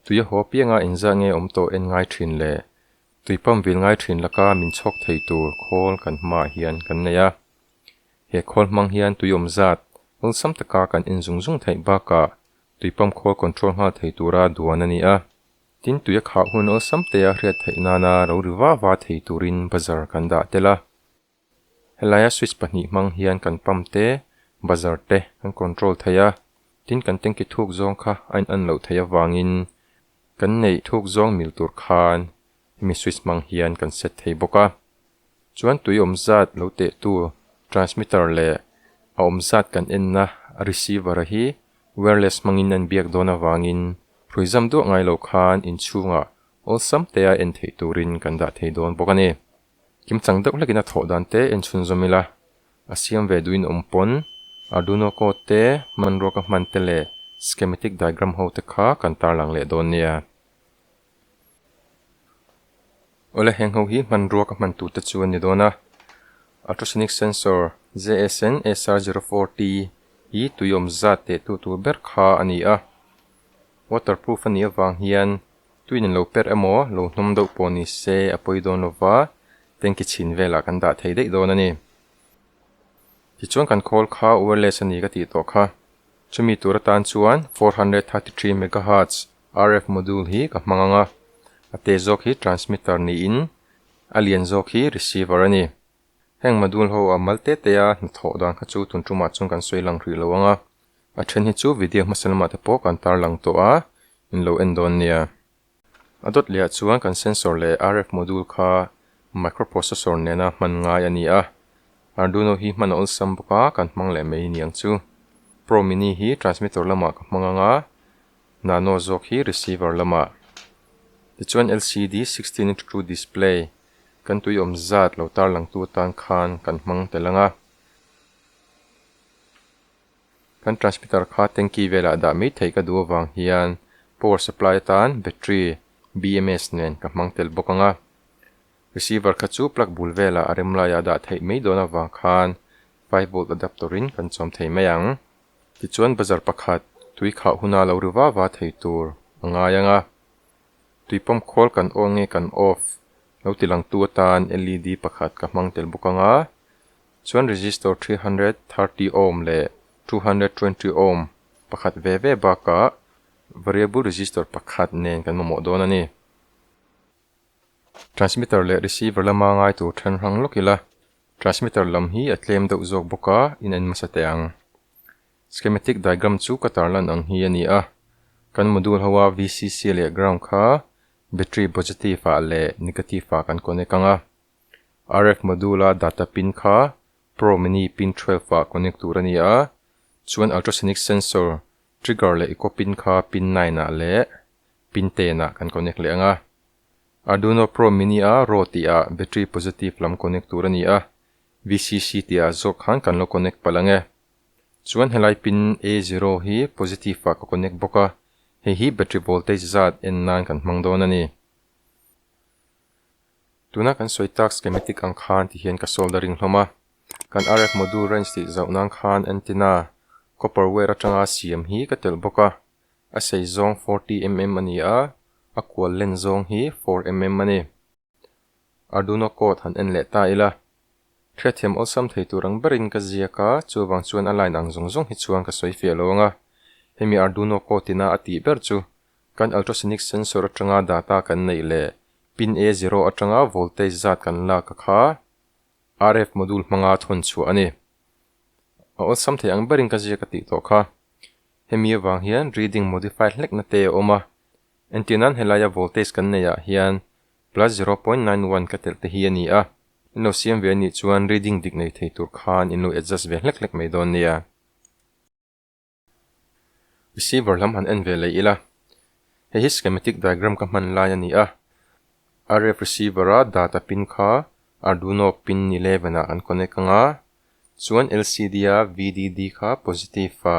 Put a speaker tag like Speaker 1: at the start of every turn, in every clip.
Speaker 1: Tui a haw piang a inzah nge awm tawh en ngai thin le? Tui pump vil ngai thin laka min chhawk thei tur khawl kan hmaah hian kan nei a. He khawl hmang hian tui awm zat awlsam taka kan en zung zung theih bakah tui pump khawl control nghal thei tura duan a ni a. Tin, tui a khah hun awlsam te a hriat theih nana rori va va thei turin bazar kan dah tel a. Helaia switch pahnih hmang hian kan pump te, buzzer te kan control thei a, tin kan tanki thuk zawng kha a in'an loh theih avangin kan neih thuk zawng mil tur khan hemi switch hmang hian kan set thei bawk a. Chuan tui awm zat lo tehtu transmitter leh a awm zat kan enna receiver-a hi wireless hmangin a inbiak dawn avangin hruaizam duah ngai lo khan inchhungah awlsam te a en theih turin kan dah thei dawn bawk a ni. Kim chang deuh hlekin a thawh dan te en chhun zawm ila, a siam ve duhin a awm pawn. Arduino code te, hman ruaka hman te leh schematic diagram ho te kha kan tarlang leh dawn nia. Awle heng ho hi hman ruaka hman tur te chu a ni dawn a. Ultrasonic sensor JSN SR zero four T hi tuiawm zat tehtu tur ber kha a ni a. Waterproof a nih avang hian Tuiin in lo per emaw, lo hnawm deuh pawh ni se a pawi dawn lo va, tanki chhin velah kan dah thei daih dawn a ni. Tichuan kan call kha wireless a ni ka tih tawh kha. Chumi tur atan chuan four hundred thirty three megahertz RF module hi ka hmang ang a, a te zawk hi transmitter niin a lian zawk hi receiver a ni. Heng Madul ho a mal te te a hnathawh dan kha chu tun tumah chuan kan sawi lang rih lo ang a, a then hi chu video hmasa lamah te pawh kan tar lang tawh a, in lo en dawn nia. A dawt leh ah chuan kan sensor leh RF Module kha microprocessor nena hman ngai a ni a, Arduino hi hman a awlsam bawk a, kan hmang leh mai niang chu. Pro Mini hi transmitter lamah ka hmang ang a, Nano zawk hi receiver lamah. Tichuan LCD sixteen into two display Kan tuiawm zat lo tarlangtu atan khan kan hmang tel ang a, kan transmitter kha tanki velah dah mai theih ka duh avang hian power supply atan battery BMS nen ka hmang tel bawk ang a, receiver kha chu plug bul velah a rem laiah dah theih mai dawn avang khan five volt adapter in kan chawm thei mai ang. Tichuan bazar pakhat tui khauh huna lo ru va va thei tur a ngai ang a. Tui pump khawl kan on nge kan off lo ti lang tu atan LED pakhat ka hmang tel bawk anga chuan resistor three hundred thirty ohm leh two hundred twenty ohm pakhat ve ve bakah variable resistor pakhat nen kan mamawh dawn a ni. Transmitter leh receiver lama ngai tur then hrang lawk ila transmitter lam hi a tlem deuh zawk bawk a in en hmasa teh ang. Schematic diagram chu ka tarlan ang hi a ni a, kan module hoa VCC leh ground kha battery positive ah leh negative ah kan connect ang a, RF module a data pin kha pro mini pin twelve ah connect tur a ni a, chuan ultrasonic sensor trigger leh echo pin kha pin nine ah leh pin ten ah kan connect leh ang a, Arduino pro mini a raw tih ah battery positive lam connect tur a ni a, VCC tia zawk khan kan lo connect palh ang e. Chuan helai pin A zero hi positive ah ka connect bawk a, hei hi battery voltage zat en nan kan hmang dawn a ni. Tuna kan sawi tak schematic ang khan ti hian ka soldering hlawm a. Kan RF module range tih zauh nan khan antenna copper wire atanga siam hi ka telh bawk a. A sei zawng forty mm a ni a, a kual len zawng hi four mm a ni. Arduino code han en leh ta ila. Hrethiam awlsam thei tur ang berin ka ziak a, chuvang chuan a line ang zawng zawng hi chuan ka sawi fiah lo ang a. Hemi Arduino code ina a tih ber chu, kan ultrasonic sensor atanga data kan neih leh pin A zero atanga voltage zat kan lak a kha RF module hmanga thawn chhuah a ni. A awlsam thei ang berin ka ziak a tih tawh kha. Hemi avang hian reading modify hlekna te a awm a. Entir nan helaia voltage kan nei ah hian plus zero point nine one ka telh te hi a ni a, in lo siam ve a nih chuan reading dik nei thei tur khan in lo adjust ve hlek hlek mai dawn nia. Receiver lam han en ve leh ila, hei hi schematic diagram ka hman lai a ni a, RF receiver a data pin kha Arduino pin eleven ah kan connect anga, chuan LCD a VDD kha positive a,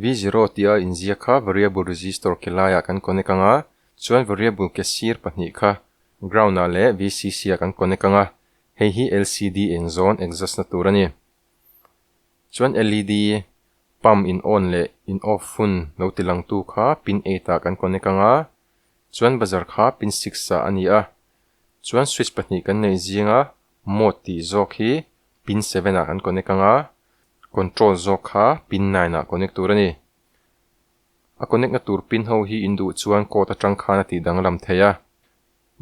Speaker 1: V zero tia inziak kha variable register ke laiah kan connect ang a, chuan variable ke sir pahnih kha ground ah leh VCC ah kan connect ang a, hei hi lcd eng zawn exhaust na tur a ni. Chuan led pump in on leh in off hun lo ti lang tu kha pin eight ah kan connect ang a, chuan buzzer kha pin six ah a ni a, chuan switch pahnih kan neih zing a mode tih zawk hi pin seven ah kan connect ang a, Control zawk kha pin nine ah connect tur a ni. A connect na tur pin ho hi in duh chuan code atang khan a tih danglam thei a.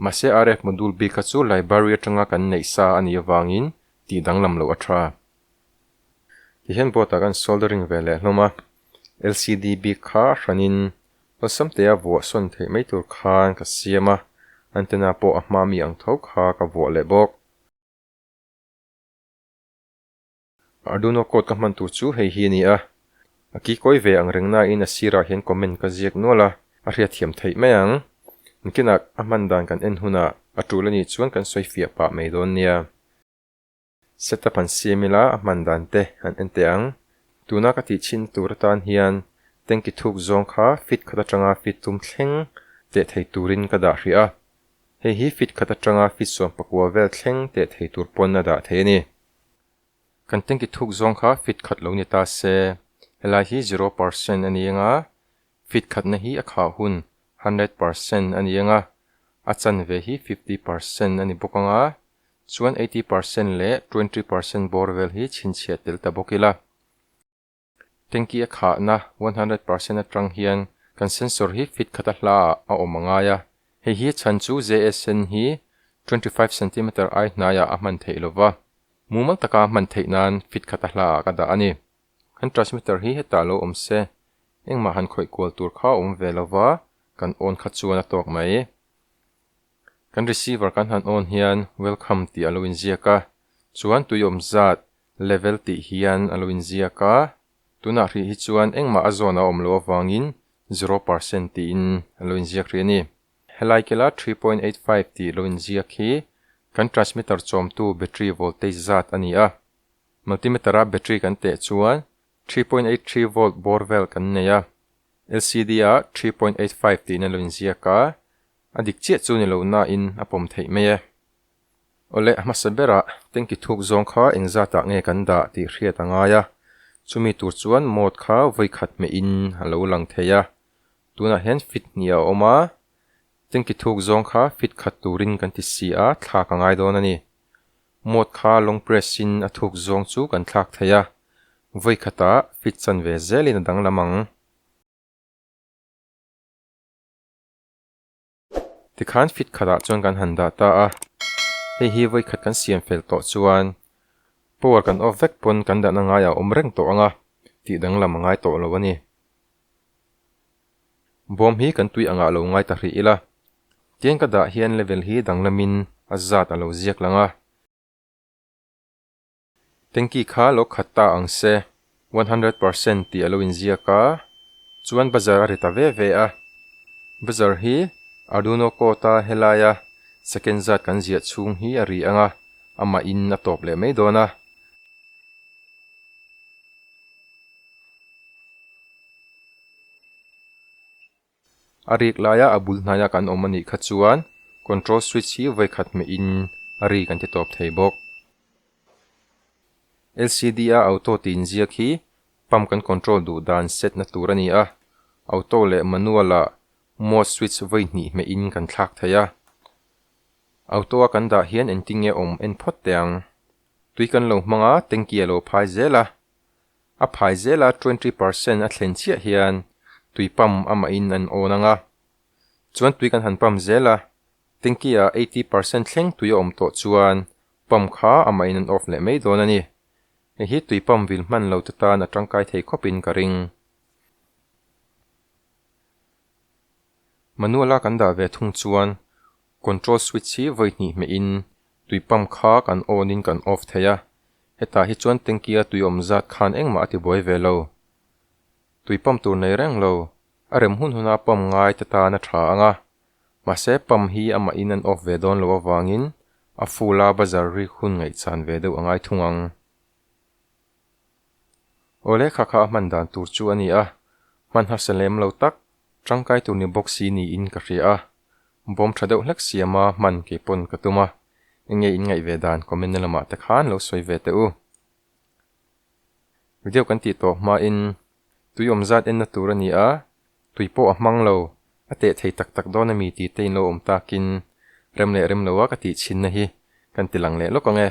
Speaker 1: Mahse RF module bik a chu library atanga kan neih sa a nih avangin tih danglam loh a tha. Kei hian board ah kan soldering ve leh hlawm a, LCD bik kha hranin awlsam te a vuah sawn theih mai tur khan ka siam a, antenna pawh a hma mi ang tho kha ka vuah leh bawk. A Duno quote ka hman tur chu hei hi a ni a, A kikawi ve ang reng naiin a sirah hian comment ka ziak nual a, a hriatthiam theih mai ang. Mckinah a hman dan kan en hunah a tul a nih chuan kan sawi fiah pah mai dawn nia. Setup han siam ila a hman dan te han en teh ang. Tuna ka tih chin tur atan hian tank i thuk zawng kha feet khat atanga feet tum thleng teh thei turin ka dah hria. Hei hi feet khat atanga feet sawmpakua vel thleng teh thei tur pawn a dah thei a ni. Kan tanki thuk zawng kha fit khat lo ni ta se, helai hi zero percent a ni ang a, fit khatna hi a khah hun hundred percent a ni ang a, a chan ve hi fifty percent a ni bawk ang a, chuan eighty percent leh twenty percent bawr vel hi chhinchhiah tel ta bawk ila. Tanki a khahna one hundred percent atang hian kan sensor hi fit khat a hla ah a awm a ngai a, hei hi chhan chu jsn hi twenty five centimeter ai hnai ah a hman theih lo va, mumal taka a hman theih nan fit khat a hla ah ka dah a ni. Kan transmitter hi hetah lo awm se, engmah han khawih kual tur kha a awm ve lo va, kan on kha chuan a tawk mai. Kan receiver kan han on hian welcome tih a lo inziak a, chuan tui awm zat Level tih hian a lo inziak a, tunah hrih hi chuan engmah a zone a awm loh avangin zero percent tiin an lo inziak hrih a ni. Helai kela three point eight five tih lo inziak hi kan transmitter chawmtu battery voltage zat a ni a. Multimeter-a battery kan teh chuan three point eight three volt bawr vel kan nei a, LCD-a three point eight five tiin a lo inziak a, a dik chiah chu ni lo nain a pawm theih mai e. Awle hmasa berah Tengki thuk zawng kha eng zatah nge kan dah tih hriat a ngai a, chumi tur chuan mawt kha vawikhat hmehin a lo lang thei a, tunah hian fit hnih a awm a, Tengki thuk zawng kha fit khat turin kan ti si a, thlak a ngai dawn a ni. Mawt kha long press in a thuk zawng chu kan thlak thei a, vawikhatah fit chan ve zelin a danglam ang. Tikhan fit khatah chuan kan han dah ta a, hei hi vawikhat kan siam fel tawh chuan power kan off vek pawn kan dahna ngaiah awm reng tawh ang a, tih danglam a ngai tawh lo a ni. Bawm hi kan tui angah lo ngai ta hrih ila, tiang ka dah hian level hi danglamin a zat a lo ziak lang a. Tengki kha lo khat ta ang se, one hundred percent tih a lo inziak a, chuan bazar a ri ta ve ve a. Bazar hi Arduino code a helaia second zat kan ziah chhung hi a ri ang a, amahin a tawp leh mai dawn a. A rik laia a bul hnaia kan awm a nih kha chuan control switch hi vawikhat meh in a ri kan ti tawp thei bawk. LCD a auto tih inziak hi pump kan control duh dan set na tur a ni a, auto leh manual ah mode switch vawi hnih hmeh in kan thlak thei a. Auto a kan dah hian engtin nge awm en phawt teh ang. Tui kan lo hmang a, tanky a lo phai zel a, A phai zela twenty per cent a thlen chiah hian tui pump amahin an on ang a, chuan tui kan han pump zel a, tanky ah eighty per cent thleng tui a awm tawh chuan pump kha amahin an off leh mai dawn a ni. Hei hi tui pump vil hman lo te tan a tangkai thei khawpin ka ring. Manual a kan dah ve thung chuan control switch hi vawi hnih hmeh in tui pump kha kan on in kan off thei a, hetah hi chuan tanky a tui awm zat khan engmah a ti buai ve lo. Tui pump tur nei reng lo, a rem hun hun a pump ngai te tan a tha ang a, mahse pump hi amah in an off ve dawn lo avangin a full a bazar ri hun ngaih chan ve deuh a ngai thung ang. Aw lehkha kha a hman dan tur chu a ni a, hmanhase lem lo tak tangkai tur ni bawk si niin ka hria a, bawm tha deuh hlek siama hman kei pawn ka tum a, enge in ngaih ve dan comment na lamah te khan lo sawi ve teh u. Video kan tih tawh hmain tui awm zat enna tur a ni a, tui pawh a hmang lo, a teh thei tak tak dawn a mi ti te in lo awm takin rem leh rem lo a ka tih chinna hi kan ti lang leh lawk ang e.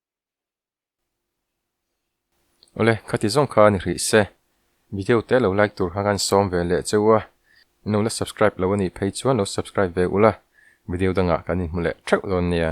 Speaker 1: Awle, khati zawng kha a ni hrih se. Video te lo like tur kha khan sawm ve leh cheu a, in no la subscribe lo a nih phei chuan lo subscribe ve ula, video dangah kan inhmu leh theuh dawn nia.